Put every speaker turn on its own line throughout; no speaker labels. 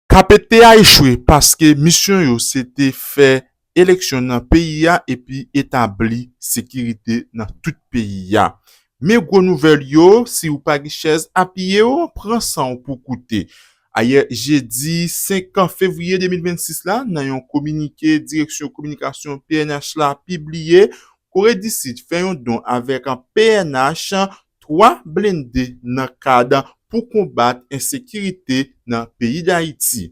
Kapet te a echwe paske misyon yo se te fè eleksyon nan peyi a epi etabli sekirite nan tout peyi a. Men gwo nouvèl yo, si ou pa gen chèz apiye w, pran san w pou koute. Ayè jedi 5 fevriye 2026 la, nan yon kominike Direksyon Kominikasyon pnh la pibliye, Kore di Sid fè yon don avèk pnh 3 blende nan kad pou konbat ensekirite nan peyi Dayiti.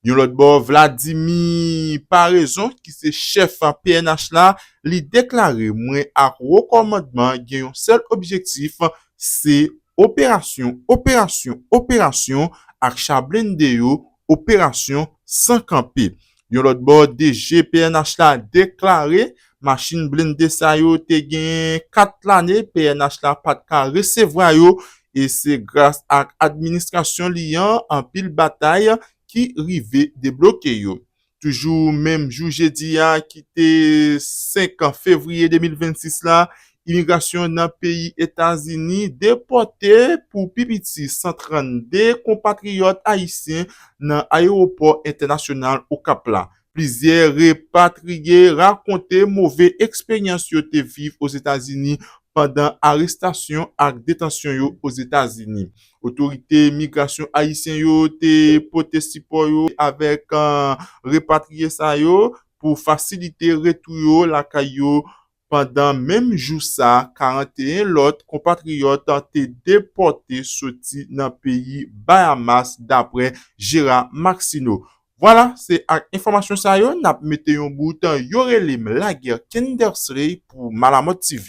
Yon lòt bò Vladimi Paraison ki se chèf pnh la li deklare mwen ak wo kòmandman gen yon sèl objektif se operasyon operasyon operasyon ak cha blende yo operasyon san kanpe. Yon lòt bò, DG pnh la deklare machin blende sa yo te genyen 4 lane pnh la pa t ka resevwa yo e se gras ak administrasyon li an anpil batay ki rive debloke yo. Toujou menm jou jedi a ki te 5 fevriye 2026 la, imigrasyon nan peyi Etazini depòte pou pi piti 132 konpatriyòt ayisyen nan ayewopò entènasyonal Okap la. Plizyè repatriye rakonte move eksperyans yo te viv Ozetazini pandan arestasyon ak detansyon yo Ozetazini. Otorite migrasyon ayisyen yo te pote sipò yo avèk repatriye sa yo pou fasilite retou yo lakay yo pandan menm jou sa 41 lòt konpatriyòt te depòte soti nan peyi Bayamas daprè Gérard Maxineau. Vwala se ak enfòmasyon sa yo nap mete yon bout, yo rele m Laguerre Kendersley pou Malamòttv.